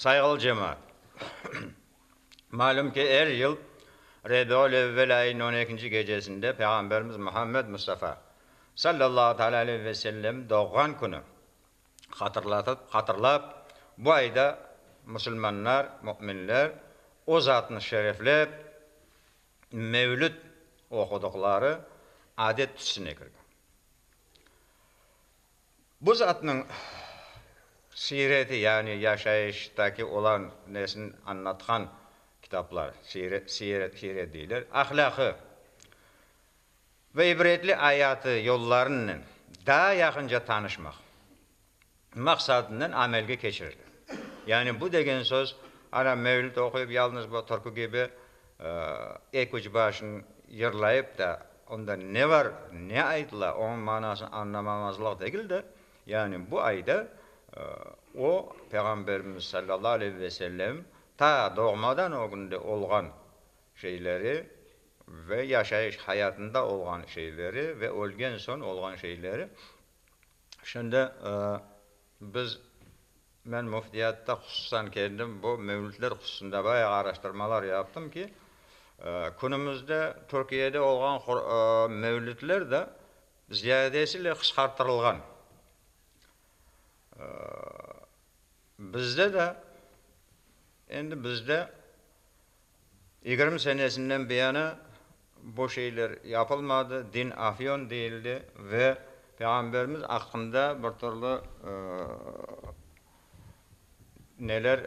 Sayğılı cemaat! Malüm ki, er yıl Rebiül evvel ayınıñ on ekinci gecesinde Peyğamberimiz Muhammed Mustafa, sallallahu teala aleyh ve sellem, doğğan künü hatırlatıp, hatırlap, bu ayda musulmanlar, müminler o zatnı şereflep mevlüt oqudıqları adet tüsüne kirgen. Bu zatnıñ siyreti, yani yaşayıştaki olan nesini añlatqan kitaplar, siret deyler, ahlâqı ve ibretli ayatı yollarınnen daa yaqınca tanışmaq maqsadınen amelge keçirildi. Yani bu degen söz, ana mevlüt oquyıp, yalnız bu türkü kibi Eki üç başın yırlayıp da, onda ne bar, ne aytıla, onıñ manasını añlamamazlıq degil de, yani bu ayda o, Peyğamberimiz sallallahu aleyhi ve sellem ta doğmadan ögünde olğan şeyleri ve yaşayış hayatında olğan şeyleri ve ölgen soñ olğan şeyleri şimdi Biz, men Müftiyatta hususan kendim bu mevlütler hususında bayağı araştırmalar yaptım ki, künümizde Türkiyede olğan mevlütler de ziyadesiyle qısqartırılğan. Bizde de, endi bizde Yigirmi senesinden biyani bu şeyler yapılmadı, din afyon deyildi ve Peyğamberimiz aqqında bir türlü neler,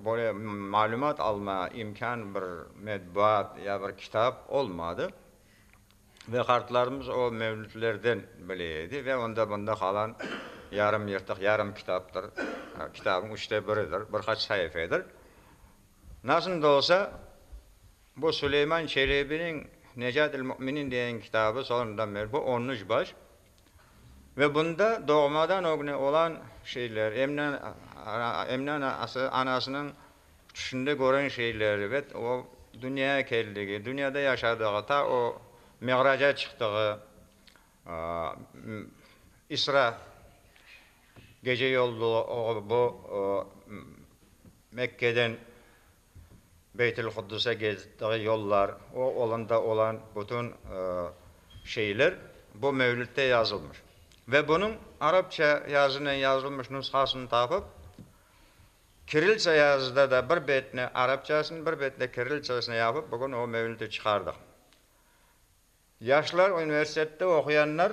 böyle malümat alma imkân bir metbuat ya bir kitap olmadı. Ve qartlarımız o mevlütlerden bile edi ve onda bunda qalan yarım yırtıq, yarım kitaptır, kitabın üçte biridir, bir qaç saifedir. Nasıl da olsa, bu Suleyman Çelebiniñ Necatül Müminin degen kitabı, sonradan beri bu on üç baş. Ve bunda doğmadan ögne olan şeyler, Emine, Emine anasınıñ tüşünde kören şeyleri ve o dünyaya keldigi, dünyada yaşadığı, ta o Miğraca çıqtığı, İsra gece yol bulup bu Mekkeden Beytülquddise gittiği yollar, o olanda olan bütün şeyler bu Mevlütte yazılmış. Ve bunıñ arapça yazınen yazılmış nushasını tapıp, kiriltsa yazıda da bir betini arapçasını, bir betini kiriltsasını yapıp, bugün o Mevlütti çıqardıq. Yaşlar universitette oquyanlar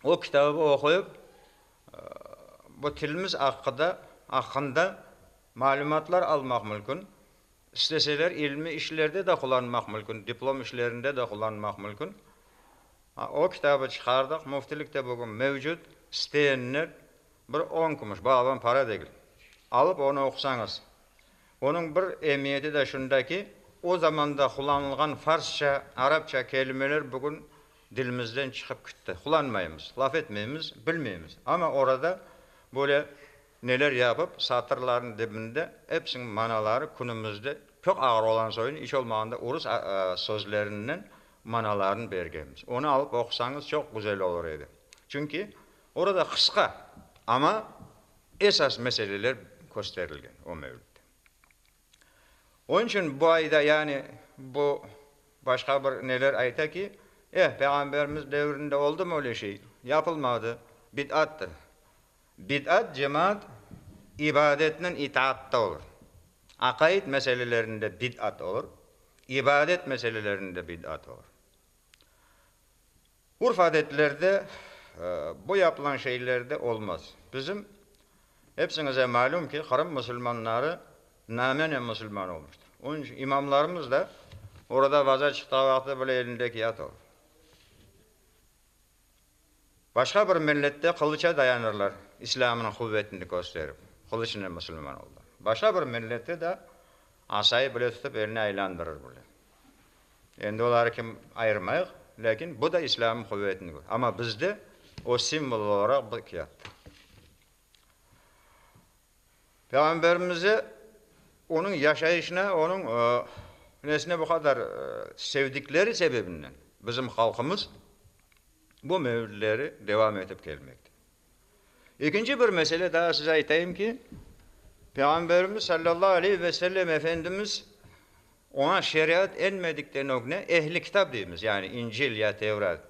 o kitabı oquyıp, bu tilimiz aqqıda, aqqında malümatlar almaq mülkün, isteseler ilmiy işlerde de qullanmaq mülkün, diplom işlerinde de qullanmaq mülkün. O kitabı çıqardıq, Müftilikte bugün mevcut, isteyenler bir on kümüş, bu alınan para degil, alıp onı oqusañız, Onıñ bir emiyeti de şunda ki, o zamanda qullanılğan farsça, arapça kelimeler bugün dilimizden çıqıp kitti. Qullanmaymız, laf etmeymiz, bilmeymiz. Amma orada böyle neler yapıp, satırlarnıñ dibinde episiniñ manaları künümizde çoq ağır olan soyun, iç olmağanda urus sözlerinden manalarını bergenmiz. Onı alıp oqusañız çoq güzel olur edi. Çünki, Orada qısqa, amma esas meseleler kösterilgen o mevlütte. Onıñ içün bu ayda, yani bu başqa bir neler ayta ki, eh, Peyğamberimiz devrinde oldumı öyle şey? Yapılmadı, bid'attır. Bid'at, cemaat, ibadetnen itaatta olur. Aqaid meselelerinde bid'at olur, ibadet meselelerinde bid'at olur. Urf-adetlerde bu yapılan şeylerde olmaz. Bizim, epsiñize malüm ki, Qırım musulmanları namenen musulman olmuştır. Onıñ içün imamlarımız da orada vaza çıqtağı vaqıtta böyle elinde kâğıt alıp, başqa bir millette qılıça dayanırlar, İslâmnıñ quvetini kösterip, qılıçnen musulman olurlar. Başqa bir millette de asayı bile tutıp, eline aylandırır bile. Endi oları kim ayırmayıq, lâkin bu da İslâmnıñ quvetini kö. Amma bizde o simvol olaraq bıqyattı. Peyğamberimize, onıñ yaşayışına, onıñ nesine bu qadar sevdikleri sebebinden bizim halqımız bu mevlütleri devam etip kelmekte. Ekinci bir mesele daa size aytayım ki, Peyğamberimiz sallallahu aleyh ve sellem Efendimiz oña şeriat enmedikten ögne ehli kitap deymiz, yani İncil ya Tevrat,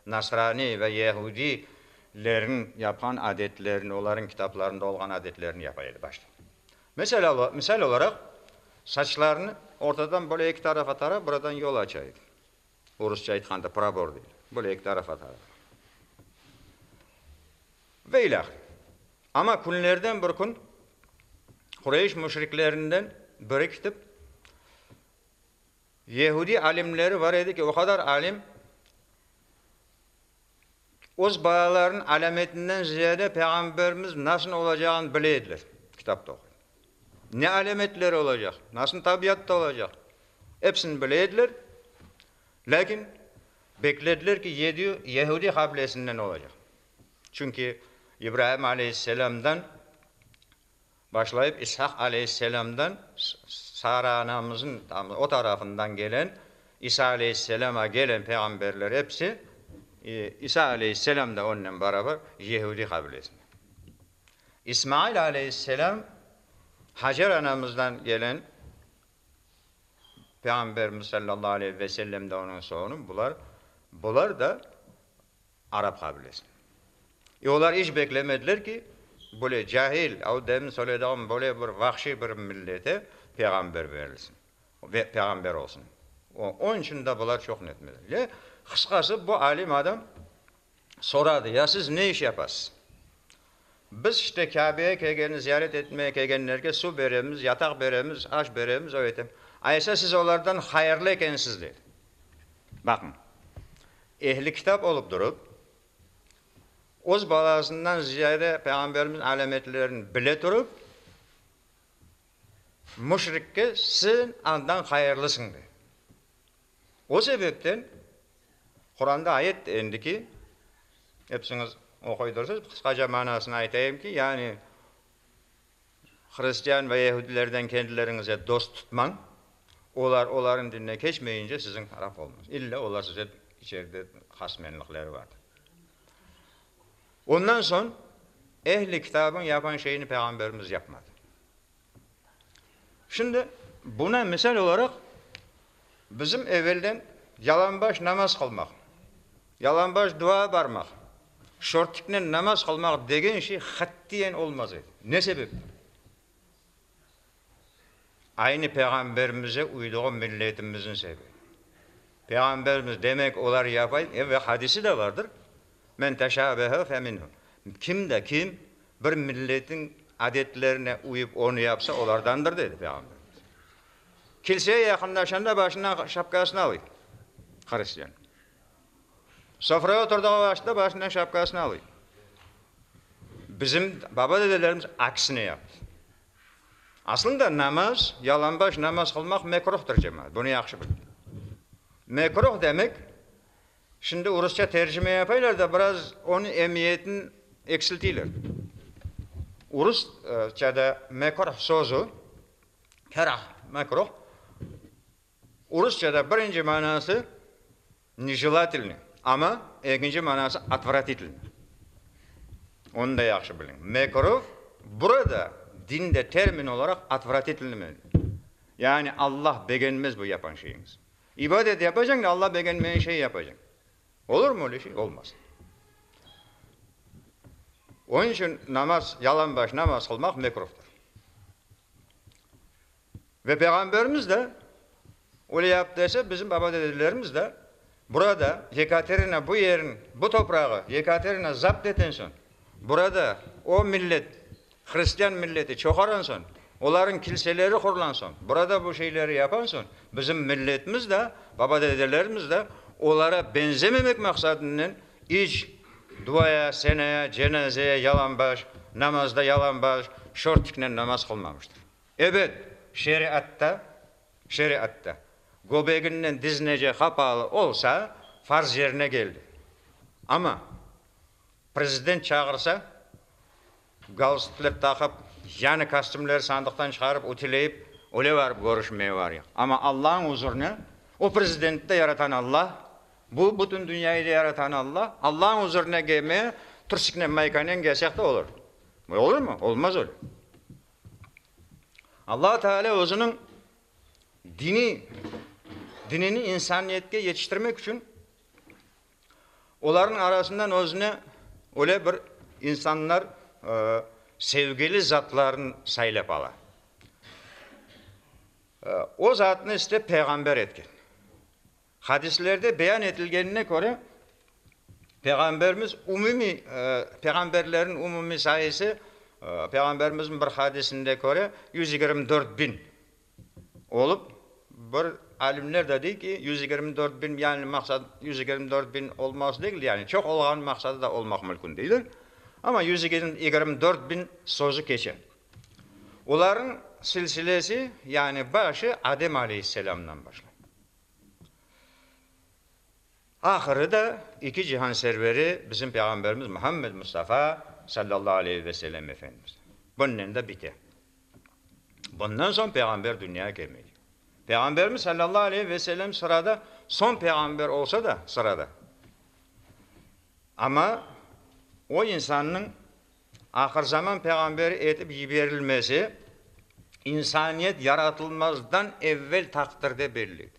nasraniy ve yahudiylerniñ yapqan adetlerini, olarnıñ kitaplarında olğan adetlerini yapa edi başta. Mesela, misal olaraq, saçlarını ortadan böyle eki tarafa tarap, buradan yol aça edi. Orusça aytqanda probor dey. Böyle eki taraf atalı. Ve ilâhre. Amma künlerden bir kün Qureyş müşriklerinden biri kitip, Yehudiy alimleri bar edi ki, o qadar alim, öz balalarınıñ alâmetinden ziyade Peyğamberimiz nasıl olacağını bile ediler, kitapta oquyım. Ne alâmetleri olacaq, nasıl tabiatta olacaq, episini bile ediler, lâkin beklediler ki, yedi Yehudiy qabilesinden olacaq. Çünki İbrahim aleyhisselâmdan. Başlayıp İshak aleyhisselâmdan, Sara anamızın o tarafından gelen, İsa aleyhisselâma gelen peyğamberler episi, İsa aleyhisselâm da onnen barabar, yehudiy qabilesinden. İsmail aleyhisselâm Hacer anamızdan gelen Peyğamberimiz sallallahu aleyhi ve sellem de onıñ soğunı, bular, bular da Arap qabilesine. E olar iç beklemediler ki, böyle cahil, o demin söylediğim böyle bir vahşiy bir millete peyğamber berilsin, peyğamber olsun. Onıñ içün de bular çoq netmediler. Le, qısqası bu alim adam soradı, ya siz ne iş yapasız? Biz işte Kâbeye kelgeni ziyaret etmeye kelgenlerge suv beremiz, yataq beremiz, aş beremiz, o etem. Aysa siz olardan hayırlı ekensiz, dedi. Baqıñ, ehli kitap olup durıp, öz balasından ziyade Peyğamberimiz alâmetlerini bile turıp, müşrikke sen andan hayırlısıñ, dedi. O sebepten Quranda ayet endi ki, epsiñiz oquydırsız, qısqaca manasını aytayım ki, yani hristian ve yehudilerden kendileriñize dost tutmañ, olar olarnıñ dinine keçmeyince siziñ taraf olmañ, illa olar size içeride hasmenlikleri vardır. Ondan soñ ehli kitabıñ yapan şeyini Peyğamberimiz yapmadı. Şimdi buna misal olaraq bizim evelden yalanbaş namaz qılmaq, yalanbaş dua barmaq, şortiknen namaz qılmaq degen şey qatiyen olmaz edi. Ne sebepten? Aynı Peyğamberimize uyduğu milletimizniñ sebebi. Peyğamberimiz, demek olar yapay, ve hadisi de vardır, Men teşabeha fe minhu, kim de kim bir milletin adetlerine uyıp onu yapsa, olardandır, dedi Peyğamberimiz. Kilseye yaqınlaşanda başından şapkasını alıy, hristiyan. Sofraya oturdığı vaqıtta başından şapkasını alıy. Bizim baba-dedelerimiz aksine yaptı. Aslında namaz, yalanbaş namaz qılmaq mekruhtır, cemaat, bunı yahşı biliñ. Mekruh demek, Şimdi rusça tercime yapaylar da biraz onıñ emiyetin eksiltiyler. Urusçada mekruh sözü, kerah, mekruh, urusçada birinci manası nijelatilnıy, amma ekinci manası otvratilnıy. Onı da yahşı biliñ. Mekruh burada dinde termin olaraq otvratilnıy. Yani Allah begenmez bu yapan şeyiñizni. İbadet yapacañ da Alla begenmegen şey yapacañ. Olurmı öyle şey? Olmaz. Onıñ içün namaz, yalanbaş namaz qılmaq mekruhtır. Ve Peyğamberimiz de öyle yaptı ise, bizim baba dedelerimiz de burada Yekaterina bu yerin, bu toprağı Yekaterina zapt eten soñ, burada o millet Hristian milleti çoğaran soñ, olarnıñ kilseleri qurlan soñ, burada bu şeyleri yapan soñ, bizim milletimiz de, baba-dedelerimiz de olara benzememek maqsadınen iç duaya, senaya, cenazeye yalanbaş, namazda yalanbaş şortiknen namaz qılmamıştır. Ebet, şeriatta, şeriatta göbeginden diznece qapalı olsa, farz yerine keldi. Amma Prezident çağırsa, galstukler taqıp, yanı kostümleri sandıqtan çıqarıp, ütüleyip, öyle barıp körüşmeye varıyıq. Amma Allañıñ uzurına, o Prezidenti de yaratan Alla, bu bütün dünyayı da yaratan Alla, Allañıñ uzurına kelmeye trusıknen, maykanen kelseq de olur. Böyle olurmı? Olmaz öyle. Alla Taalâ özüniñ diniy dinini insaniyetke yetiştirmek içün Olarnıñ arasından özüne öyle bir insanlar sevgili zatlarını saylap ala. O zatnı işte peyğamber etken. Hadislerde beyan etilgenine köre, Peyğamberimiz umumiy, peyğamberlerniñ umumiy sayısı, Peyğamberimizniñ bir hadisinde köre, yüz yigirmi dört biñ. olıp, bir alimler de dey ki, yüz yigirmi dört bin, yani maqsat yüz yigirmi dört bin olmaz degil, yani çoq olğan maqsadı da olmaq mülkün deyler, amma yüz yigirmi dört bin sözü keçe. Olarnıñ silsilesi, yani başı Adem aleyhisselamdan başlay. Ahırı da iki cihan serveri bizim Peyğamberimiz Muhammed Mustafa sallallahu aleyhi ve sellem Efendimiz bunnen da bite. Bundan soñ Peyğamber dünyaya kelmege. Peyğamberimiz sallallahu aleyhi ve sellem sırada soñ Peyğamber olsa da, sırada, amma o insannıñ ahırzaman Peyğamberi etip yiberilmesi insaniyet yaratılmazdan evvel taqdirde belli edi.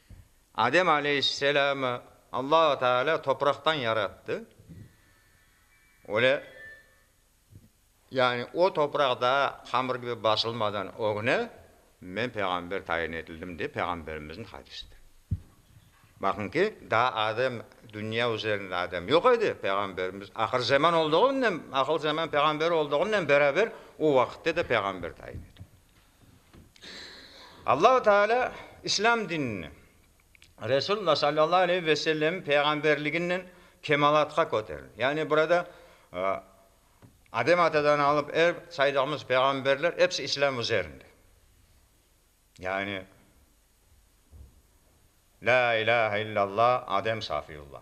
Adem aleyhisselâmı Allahu Teâlâ topraqtan yarattı. Öyle, yani o topraq daa hamır kibi basılmadan ögne men peyğamber tayin etildim dep peyğamberimizniñ hadisidir. Baqıñ ki, daa Adem, dünya üzerinde Adem yoq edi, peyğamberimiz ahır zeman olduğınen, ahıl zeman peyğamberi olduğınen beraber o vaqıtta da peyğamber tayin etildi. Allahu Teala İslâm dinini, Resulullah sallallahu aleyhi ve sellem peyğamberliginen kemalatqa köterdi. Yani burada Adem atadan alıp er saydığımız peyğamberler epsi İslâm üzerinde. Yani La ilahe illallah Adem Safiyullah.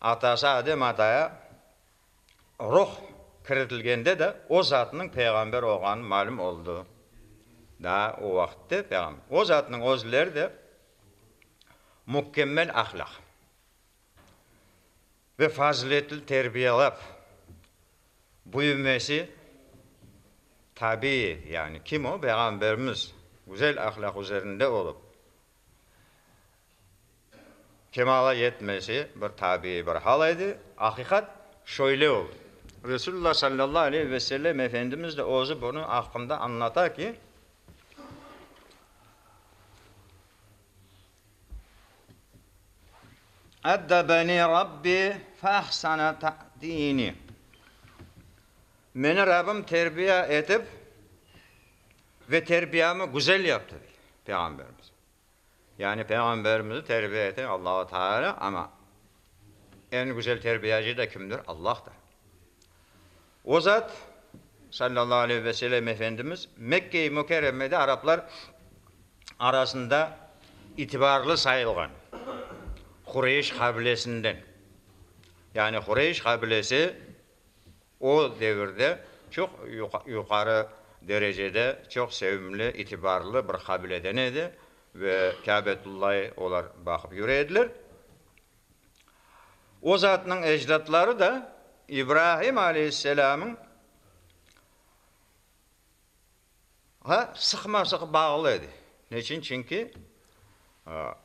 Atası Adem ataya ruh kiritilgende de o zatnıñ peyğamber olğanı malüm oldı. Daa o vaqıtte peyğam. O zatnıñ özleri de mükemmel ahlâq ve faziletli terbiyelâp büyümesi tabiiy, yani kim o? Peyğamberimiz güzel ahlâq üzerinde olıp, Kemala yetmesi bir tabiiy bir hal edi. Aqiqat şöyle oldı. Resulullah sallallahu aleyhi ve sellem Efendimiz de özü bunıñ aqqında añlata ki, Eddebeni Rabbi feahsene te'dini, Meni Rabbim terbiya etip ve terbiyamı güzel yaptı, dey Peyğamberimiz. Yani Peyğamberimizni terbiye eten Allahu Teala, amma eñ güzel terbiyacı da kimdir? Allahdır. O zat, sallallahu aleyhi ve sellem Efendimiz, Mekke-i Mukerremede araplar arasında itibarlı sayılğan Qureyş qabilesinden, yani Qureyş qabilesi, O devirde çoq yuqarı derecede, çoq sevimli, itibarlı bir qabileden edi ve Kâbetullâyı olar baqıp yüre ediler. O zatnıñ ecdatları da İbrahim aleyhisselamıñ Ve sıqma-sıq bağlı edi. Ne içün? Çünki,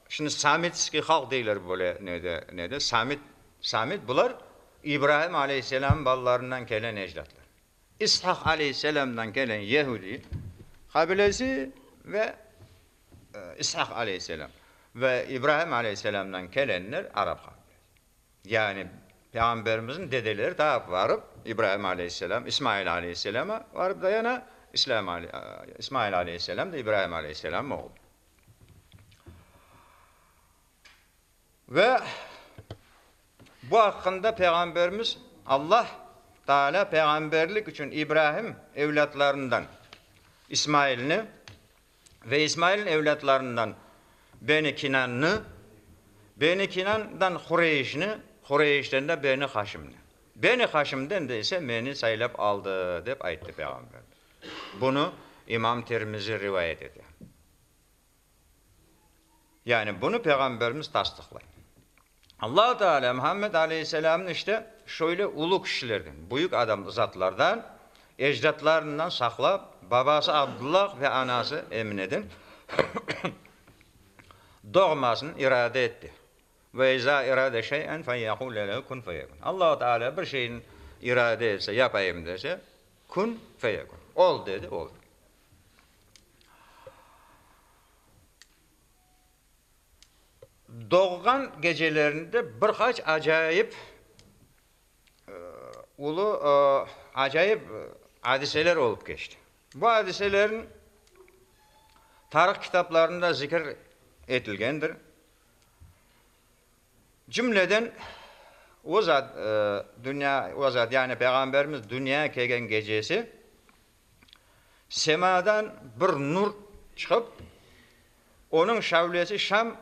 şimdi samitskiy halq deyler böyle ne de, ne de, samit, samit, bular İbraim aleyhisselamnıñ balalarından kelen ecdatlar. İshak aleyhisselamdan kelen Yehudiy qabilesi ve İshak aleyhisselam ve İbraim aleyhisselamdan kelenler arap qabilesi. Yani Peyğamberimizniñ dedeleri ta varıp, İbraim aleyhisselam, İsmail aleyhisselama varıp dayana, İslâm, İsmail aleyhisselam da İbraim aleyhisselamnıñ oğlu. Ve bu aqqında Peyğamberimiz, Allah Teala peyğamberlik içün İbraim evlâtlarından İsmailni, Ve İsmailniñ evlâtlarından Beni Kinannı, Beni Kinandan Hureyşni, Hureyşten de Beni Haşimni, Beni Haşimden de ise meni saylap aldı, dep ayttı Peyğamberimiz. Bunı İmam Tirmizi rivayet ete. Yani bunı Peyğamberimiz tasdıqlay. Allahu Teala Muhammed aleyhisselamnı işte şöyle ulu kişilerden, büyük adam, zatlardan, ecdatlarından saqlap, babası Abdullah ve anası Emineden doğmasını irade etti. Ve iza erade şey'en feyekule lehu kun feyekun. Allahu Teala bir şeyni irade etse, yapayım dese, kun feyekun, ol dedi, olur. Doğğan gecelerinde bir qaç acayip ulu acayip adiseler olıp keçti. Bu adiselerniñ tarih kitaplarında zikir etilgendir. Cümleden o zat dünya, o zat yani Peyğamberimiz dünya kelgen gecesi Semâdan bir nur çıqıp, onıñ şavlesi Şam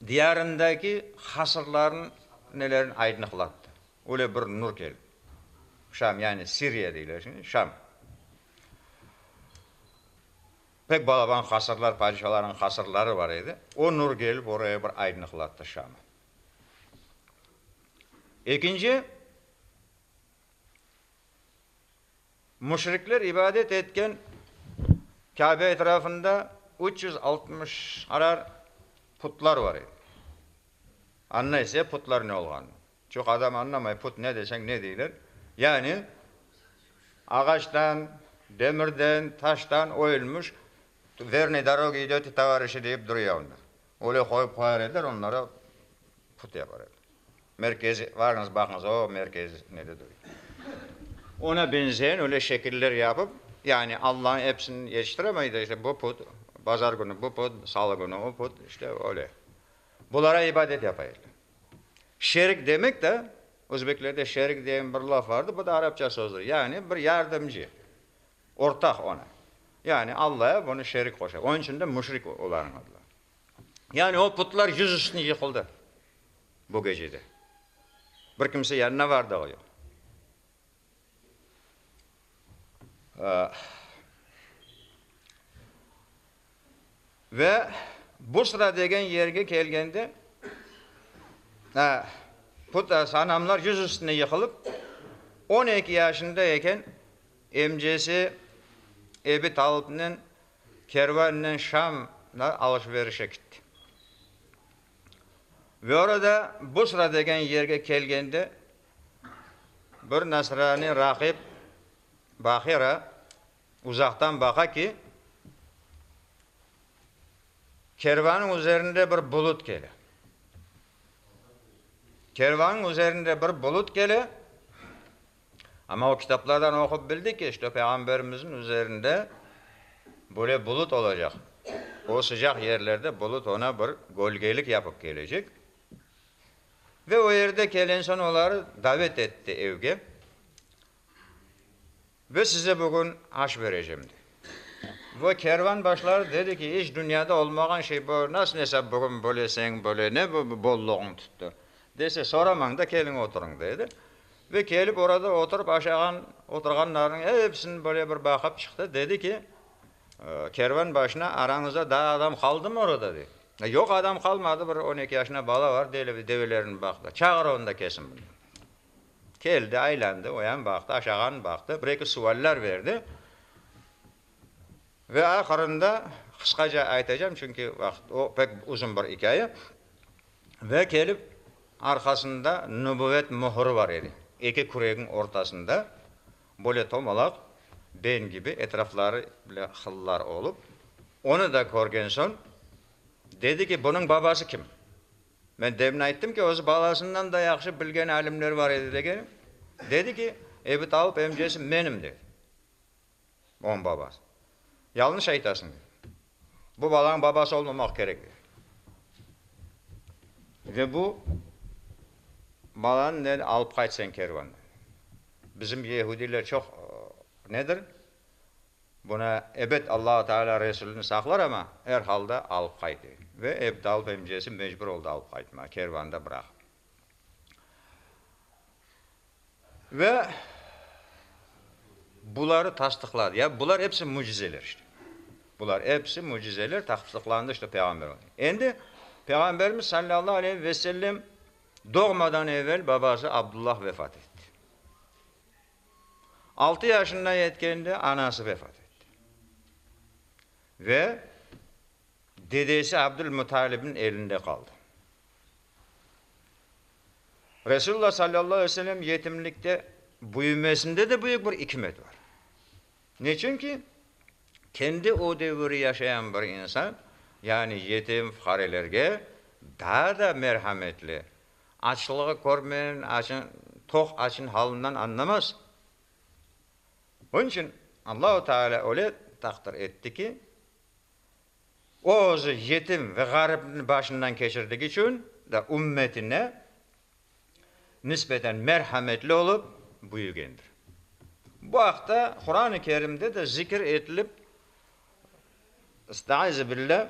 diyarındaki hasırlarnınelerni aydınıqlattı. Öyle bir nur keldi. Şam, yani Siriya deyler şimdi, Şam. Pek balaban hasırlar, padişalarnıñ hasırları bar edi. O nur kelip oraya bir aydınıqlattı Şamı. Ekinci, Müşrikler ibadet etken Kâbe etrafında üç yüz altmış arar putlar bar edi. Anna ise putlar ne olğanını. Çünki adam añlamay, put ne deseñ ne deyler. Yani ağaçtan, demirden, taştan oyulmış Vernıy dârogi ideti tovarişi deyip duruya onda. Öyle qoyıp qoyar ediler, onları put yapar ediler. Merkez, varıñız, baqıñız, o merkez nede duruy. Ona benzeyen öyle şekiller yapıp, yani Allañı episini yetiştiremey de, işte, bu put, bazar künü bu put, salı künü o put, işte, öyle. Bulara ibadet yapaylar. Şerik demek de, özbeklerde şerik degen bir laf vardır, bu da arapça sözdür, yani bir yardımcı, ortaq ona. Yani Allaya bunı şerik qoşa. Onıñ içün de müşrik olarnıñ adları. Yani o putlar yüz üstüne yıqıldı bu gecede. Bir kimse yanına var dağı yoq. Ve Busra degen yerge kelgende put, sanamlar yüz üstüne yıqılıp, on eki yaşında eken emcesi Ebi Talipnen Kervannen Şam na alış-berişe kitti. Ve orada Busra degen yerge kelgende bir nasraniy rahip Bahira uzaqtan baqa ki, kervanıñ üzerinde bir bulut kele. Kervanıñ üzerinde bir bulut kele. Amma o kitaplardan oqup bildi ki, işte, Peyğamberimizniñ üzerinde böyle bulut olacaq. O sıcaq yerlerde bulut oña bir gölgelik yapıp kelecek. Ve o yerde kelen soñ oları davet etti evge. Ve size bugün aş berecem de. Ve kervan başları dedi ki, iç dünyada olmağan şey bu, nasıl nesap bugün böyle señ böyle ne bu bollığıñ tuttı? Dese, soramañ da, keliñ oturıñ, dedi. Ve kelip orada oturıp aşağan oturğanlarnıñ epsini böyle bir baqıp çıqtı, dedi ki, kervan başına, arañızda daa adam qaldımı orada? dedi. Yoq, adam qalmadı, bir on eki yaşında bala var, develerine baqtı. Çağır onu da kelsin bura. Keldi, aylandı, oyam baqtı, aşağan baqtı, bir eki sualler berdi. Ve ahırında qısqaca aytacağım, çünki vaqıt, o pek uzun bir ikâye. Ve kelip, arqasında nübüvvet mühürü bar edi. Eki küregiñ ortasında, böyle tomalaq, ben kibi, etrafları bile hıllar olıp. Onı da körgen soñ, dedi ki, bunıñ babası kim? Men demin ayttım ki, özü balasından da yahşı bilgen alimler bar edi degenim. Dedi ki, ebi tavıp emcesi menim, dedi. Oñ babası. Yalnış aytasıñ. Bu balañ babası olmamaq kerek. Ve bu balanı ne alıp qayt sen kervandan. Bizim yehudiler çoq nedir? Buna ebet Allahu Teala Resulini saqlar ama er halda alıp qaytı. Ve Ebtal Bemcesi mecbur oldı alıp qaytmağa, kervanda bıraqıp. Ve buları tasdıqladı. Ya bular episi mücizeler işte. Bular episi mücizeler tasdıqlandı işte peyğamber. Endi Peyğamberimiz sallallahu aleyhi ve sellem doğmadan evel babası Abdullah vefat etti. Altı yaşında yetkende anası vefat etti. Ve dedesi Abdülmuttalib'in elinde qaldı. Resulullah sallallahu aleyh ve sellem yetimlikte büyümesinde de büyük bir ikmet bar. Neçün ki, kendi o devir yaşayan bir insan, yani yetim, fuqarelerge daa da merhametli, açlığı körmen, açın, toq açın halinden añlamaz. Bunun içün Allahu Teala öyle taqdir etti ki, O özü yetim ve ğaripni başından keçirdigi içün de ümmetine nisbeten merhametli olıp büyügendir. Bu aqta Quran-ı Kerimde de zikir etilip, Estaizubillah,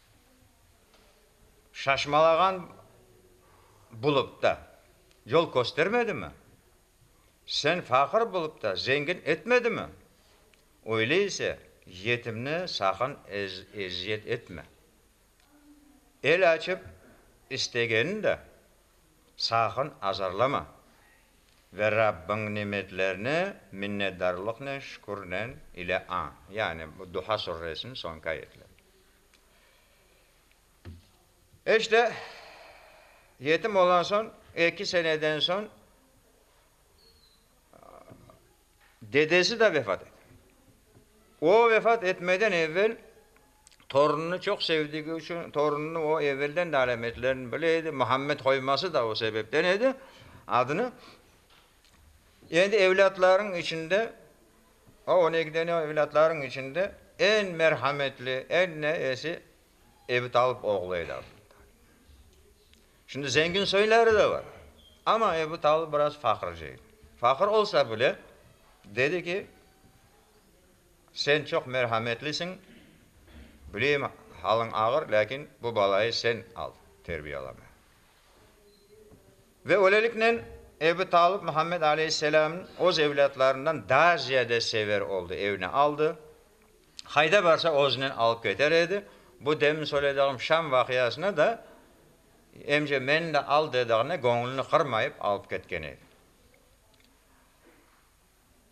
Şaşmalağan bulupta yol köstermedimi? Sen faqır bulupta zengin etmedimi? Öyle ise, yetimni saqın eziyet etme. El açıp istegenini de saqın azarlama ve Rabbiñ nimetlerine minnetdarlıqnen, şükürnen ile añ. Yani bu Duha Surresiniñ soñki ayetleri. İşte, yetim olan soñ, eki seneden soñ dedesi de vefat ete. O vefat etmeden evel torunını çoq sevdigi içün, torunını o evelden de alametlerini bile edi, Muhammed qoyması da o sebepten edi adını. Endi evlâtlarınıñ içinde O öyle ki ne evlâtlarıñ içinde eñ merhametli, eñ ne esi evi talıp oğlu edi aslında. Şimdi zengin soyları da bar, amma evi talı biraz faqırcı edi. Faqır olsa bile, dedi ki, sen çoq merhametlisiñ, bileyim, halıñ ağır, lâkin bu balayı sen al, terbiyeleme. Ve öyleliknen, Ebu Talıp Muhammed aleyhisselamnı öz evlâtlarından daa ziyade sever oldı, evine aldı. Qayda barsa özünen alıp keter edi. Bu demin söylediğim Şam vaqiasını da, emce meni de al dediğine, göñlüni qırmayıp alıp ketken edi.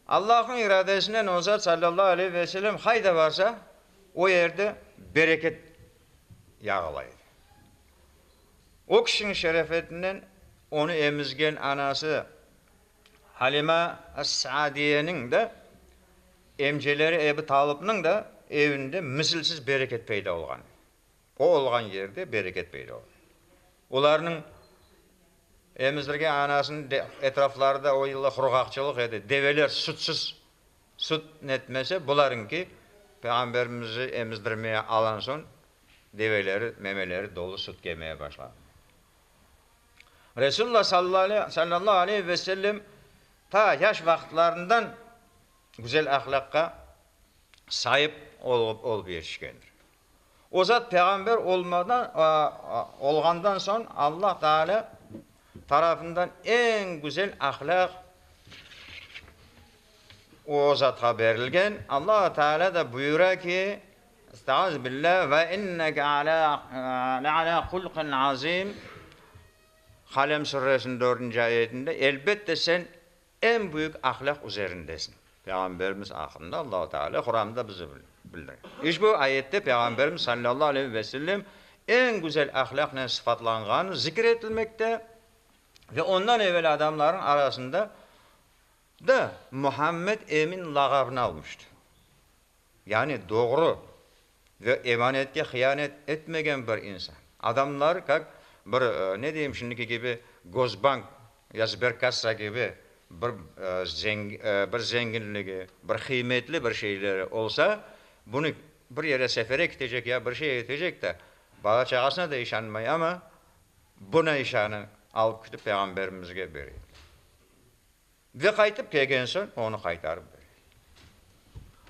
Allahnıñ iradesinen olsa, sallallahu aleyhi ve selem qayda barsa, o yerde bereket yağıla edi. O kişiniñ şerefetinden onı emizgen anası Halima as-Saadiyeniñ de, emceleri Ebu Talıbnıñ da evinde misilsiz bereket peyda olğan edi. O olğan yerde bereket peyda olur. Olarnıñ emizdirgen anasınıñ etrafları da o yıllar qurğaqçılıq edi, develer sütsüz süt netmese, bularıñki Peyğamberimizni emizdirmeye alan soñ develeri, memeleri dolu süt kemeye başladı. Resulullah sallallahu aleyhi ve sellem ta yaş vaqıtlarından güzel ahlaqqa saip olıp yetişkendir. O zat peğamber olğandan soñ Alla Taalâ tarafından eñ güzel ahlâq o zatqa berilgen. Alla Taalâ da buyura ki, Estağiz billâ, Ve inneke le'alâ hulqin azîm, Kalem suresiniñ dördünci ayetinde, Elbette sen Eñ büyük ahlâq üzerindesiñ. Peyğamberimiz aqqında Allahu Teala Quran'da bize bildire. İşbu ayette Peyğamberimiz sallallahu aleyhi ve sellem eñ güzel ahlâqnen sıfatlanğanı zikir etilmekte ve ondan evel adamlarnıñ arasında da Muhammed Emin lağabını almıştı. Yani doğru. ve emanetke hıyanet etmegen bir insan. Adamlar kak bir, ne deyim, şimdiki kibi Gosbank ya Sberkassa kibi bir bir zenginligi, bir qıymetli bir şeyleri olsa, bunı bir yere sefere kitecek ya bir şey etecek de, bala-çağasına da işanmay, amma buna işanı, alıp kitip Peyğamberimizge bere. Ve qaytıp kelgen soñ onı qaytarıp berey.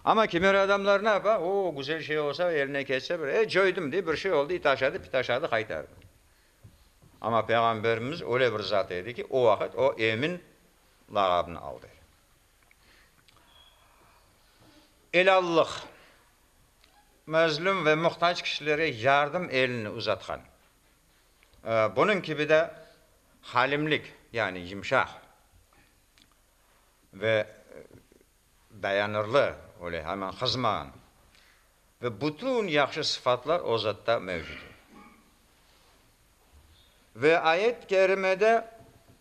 Amma kimer adamlar ne yapa, o, güzel şey olsa, eline ketse bir, e, coydım, dey, bir şey oldı, it aşadı, pit aşadı, qaytar. Amma Peyğamberimiz öyle bir zat edi ki, o vaqıt o Emin lağabını aldı edi. Elâllıq, mezlüm ve muhtac kişilere yardım elini uzatqan Bunıñ kibi de halimlik, yani yımşaq ve dayanırlı, öyle hemen qızmağan ve bütün yahşı sıfatlar o zatta mevcut. Ve ayet-i kerimede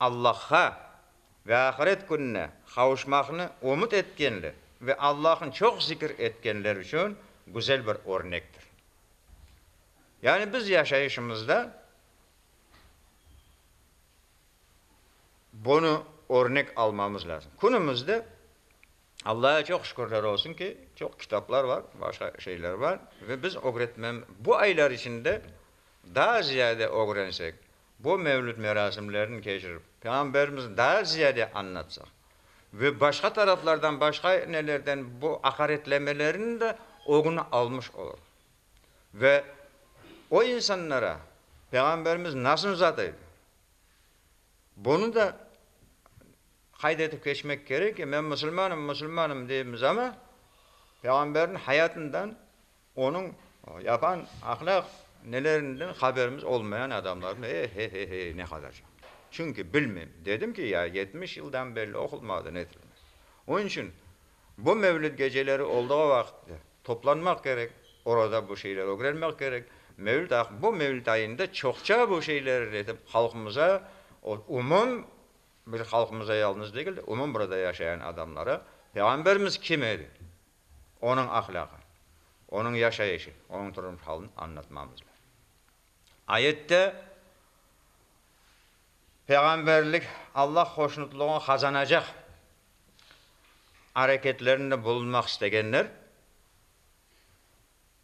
Allahqa ve ahiret kününe qavuşmaqnı ümüt etkenler ve Allah'nı çoq zikir etkenler içün güzel bir örnektir. Yani biz yaşayışımızda bunı örnek almamız lazım. Künümüzde Allah'a çoq şükürler olsun ki, çoq kitaplar bar, başqa şeyler bar ve biz ögretmem, bu aylar içinde daa ziyade ögrensek, Bu mevlüt merasimlerini keçirip, Peyğamberimizni daa ziyade añlatsaq ve başqa taraflardan, başqa nelerden bu aqaretlemelerin de ögüni almış olur. Ve o insanlara Peyğamberimiz nasıl zat edi, bunı da qayd etip keçmek kerek ki, men musulmanım, musulmanım deymiz ama, Peyğamberniñ hayatından Onıñ yapan ahlâq nelerinden haberimiz olmayan adamlardan e-he-he-he-e, ne qadar çoq. Çünki bilmem. Dedim ki, ya yetmiş yıldan belli oqulmadı, netilmez. Onıñ içün bu mevlüt geceleri olduğu vaqıtta toplanmaq kerek, orada bu şeyleri ögrenmek kerek. Mevlüt aq, bu mevlüt ayında çoqça bu şeyleri ögretip, halqımıza, o umum bir halqımıza yalnız degil de, umum burada yaşayan adamlara Peyğamberimiz kim edi? onıñ ahlâqı, onıñ yaşayışı, onıñ turmuş halini añlatmamız lazım. Ayette Peyğamberlik Allah hoşnutlığını qazanacaq areketlerinde bulunmaq istegenler,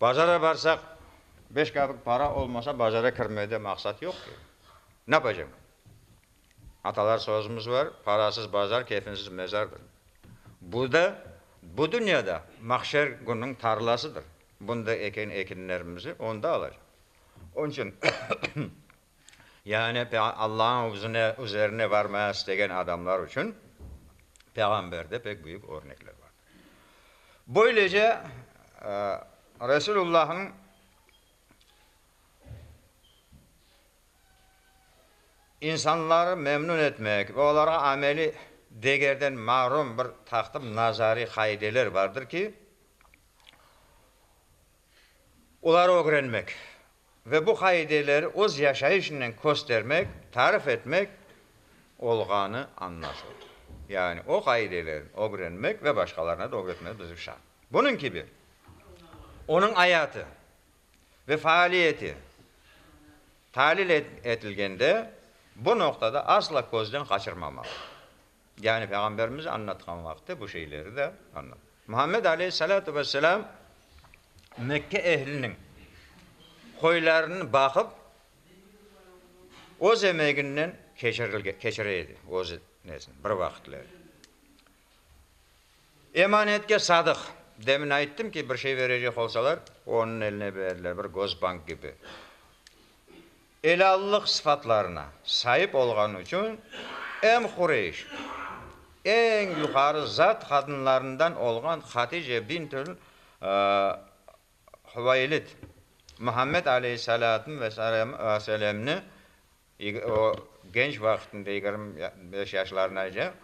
Bazara barsaq, beş qırlık para olmasa, bazara kirmede maqsat yoq ki. Napacam? Atalar sözümüz bar, parasız bazar, keyfinsiz mezardır. Bu da, bu dünya da mahşer gününiñ tarlasıdır. Bunda eken ekinlerimizi onda alacaq. Onıñ içün, Yani Allañıñ üzüne, üzerine varmaya istegen adamlar içün Peyğamberde pek büyük örnekler vardır. Böylece Resulullahıñ insanları memnün etmek ve olarğa ameliy degerden mahrum bir taqtım nazariy qaideler vardır ki, oları ögrenmek, Ve bu qaideleri öz yaşayışınen köstermek, tarif etmek olğanı añlaşıldı. Yani o qaidelerini ögrenmek ve başqalarına da ögretmek bizim şart. Bunıñ kibi, onıñ ayatı ve faaliyeti talil etilgende bu noqtada asla közden qaçırmamalı. Yani Peyğamberimiz añlatqan vaqıtta bu şeyleri de añlattı. Muhammed aleyhissalâtu vesselâm Mekke ehliniñ qoylarını baqıp, öz emeginnen keçirilgen, keçire edi, öz nesini, bir vaqıtları. Emanetke sadıq. Demin ayttım ki, bir şey verecek olsalar, onıñ eline berdiler, bir Gosbank kibi. Elâllıq sıfatlarına saip olğanı içün em Qureyş, eñ yuqarı zat qadınlarından olğan Hatice bintül Huveylit, Muhammed aleyhissalâtım ve selâmni, o, genç vaqtında, yigirmi beş yaşlarınayca,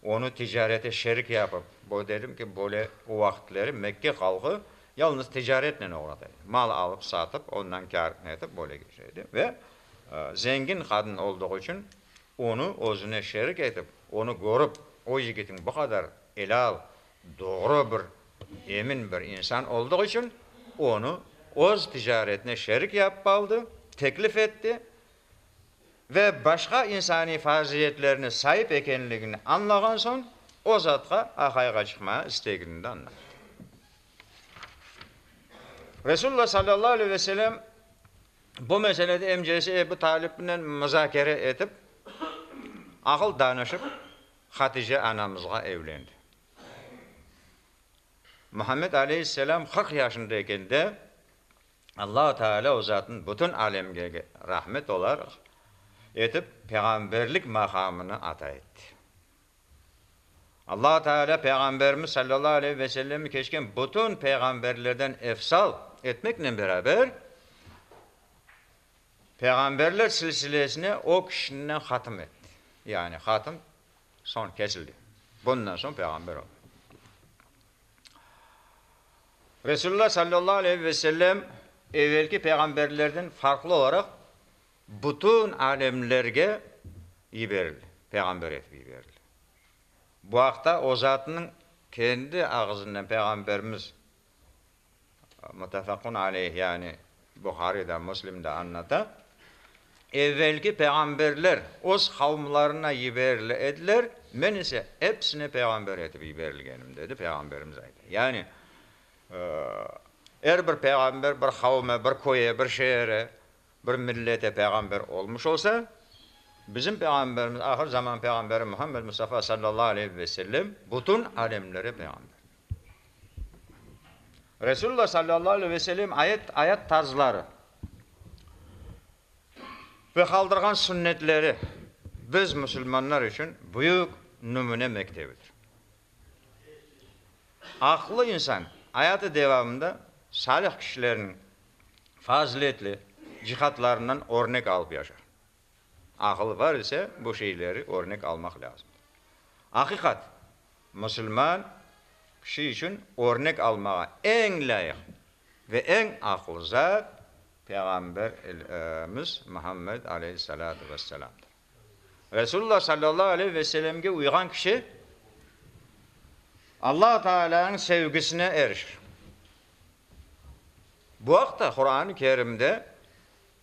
Onı ticarete şerik yapıp, böyle dedim ki, böyle o vaqıtları Mekke halqı yalnız ticaretnen oğrat edi. Mal alıp, satıp, ondan kâr etip, böyle geçir edi. Ve zengin qadın olduğu içün onı özüne şerik etip, onı körip, o yigitin bu qadar elâl, doğru bir, emin bir insan olduğu içün onı öz ticaretine şerik yapıp aldı, teklif etti. ve başqa insaniy farziyetlerine saip ekenligini añlağan soñ, o zatqa aqayğa çıqmağa istegini de añlattı. Resulullah sallallahu aleyh ve selem bu meselede emcesi Ebu Talibnen muzakere etip, aqıl danışıp, Hatice anamızğa evlendi. Muhammed aleyhisselam qırq yaşında eken de, Allahu Teala O Zatnıñ bütün alemge rahmet olaraq etip peyğamberlik maqamını ata etti. Allahu Teala Peyğamberimiz sallallahu aleyhi ve sellemni keçken bütün peyğamberlerden efsal etmeknen beraber, peyğamberler silsilesine o kişinen hatım etti. Yani hatım soñ kesildi. Bundan soñ peyğamber olmadı. Resulullah sallallahu aleyhi ve sellem evelki peyğamberlerden farqlı olaraq bütün alemlerge yiberildi, peyğamber etip yiberildi. Bu aqta o zatınıñ kendi ağızınen Peyğamberimiz, Muttafaqun aleyh, yani, Buhariy da, Müslim da añlata, Evelki peyğamberler öz qavmlarına yiberili ediler, men ise epsine peyğamber etip yiberilgenim, dedi Peyğamberimiz ayta. Yani, er bir peyğamber bir qavme, bir köye, bir şeere, bir millete peyğamber olmuş olsa, bizim Peyğamberimiz, ahır zaman peyğamberi Muhammed Mustafa sallallahu aleyhi ve sellem bütün alemlere peyğamber. Resulullah sallallahu aleyh ve selem ayet ayat tarzları ve qaldırğan sünnetleri biz musulmanlar içün büyük nümüne mektebidir. Aqlı insan ayatı devamında salih kişilerniñ faziletli cihatlarından örnek alıp yaşar. Aqıl bar ise, bu şeyleri örnek almaq lâzım. Aqiqat, musulman kişi içün örnek almağa eñ lâyıq ve eñ aqlı zat Peyğamberimiz Muhammed aleyhissalâtu vesselâmdır. Resulullah sallallahu aleyh ve sellemge uyğan kişi Alla Taalâniñ sevgisine erişir. Bu aqta Quran-ı Kerimde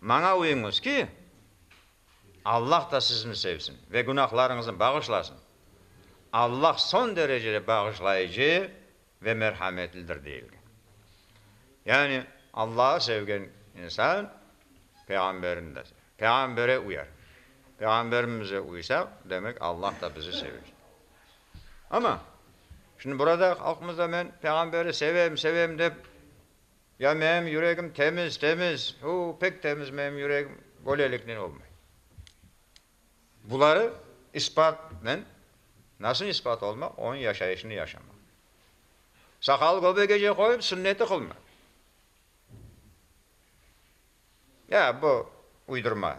Maña uyuñız ki, Allah da sizni sevsin ve günahlarıñıznı bağışlasın. Allah son derecede bağışlayıcı ve merhametlidir deyilgen. Yani Allahı sevgen insan Peyğamberini de sever, Peyğambere uyar. Peyğamberimize uysaq, demek Allah da bizi sever. Amma şimdi burada halqımızda men Peyğamberi sevem, sevem dep, Ya menim yüregim temiz, temiz, u, pek temiz menim yüregim, böleliknen olmay. Buları ispatnen, nasıl ispat olmaq, onıñ yaşayışını yaşamaq. Saqalı göbegece qoyıp, sünneti qılmaq. Ya bu uydurma.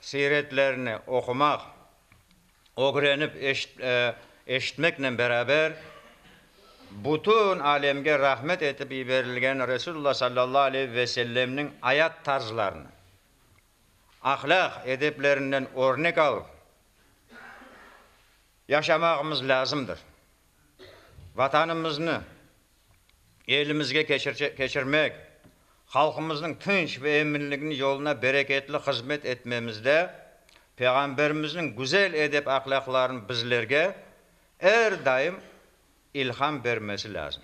siyretlerini oqumaq, ögrenip eşitmeknen beraber, bütün alemge rahmet etip yiberilgen Resulullah sallallahu aleyhi ve sellemniñ ayat tarzlarını, ahlâq edeplerinden örnek alıp yaşamağımız lâzımdır. Vatanımıznı, elimizge keçirmek, halqımıznıñ tınç ve eminliginiñ yoluna bereketli hızmet etmemizde Peyğamberimizniñ güzel edep-ahlâqlarınıñ bizlerge er daim ilham bermesi lâzim.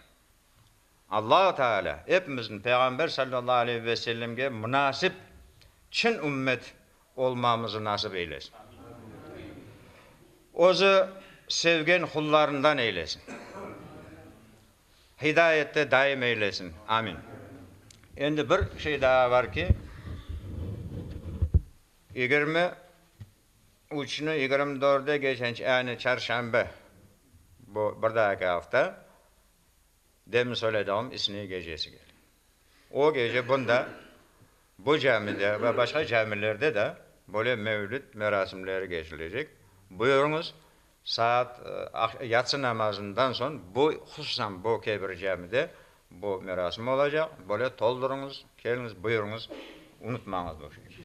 Allahu Teala epimizni Peyğamber sallallahu aleyhi ve sellemge munasip çın ümmet olmamızı nasip eylesin. Özü sevgen qullarından eylesin. Hidayette daim eylesin. Amin. Endi bir şey daa bar ki, yigirmi üçni yigirmi dörde geçenç, yani çarşanbe, bu bir daa iki afta, demin söylediğim isniy gecesi kele. O gece bunda, Bu camide ve başqa camilerde de böyle mevlüt merasimleri keçilecek. Buyurıñız, saat, yatsı namazından soñ bu, hususan bu Kebir camide bu merasim olacaq. Böyle toldurıñız, keliñiz, buyurıñız, unutmañız bu şeyni.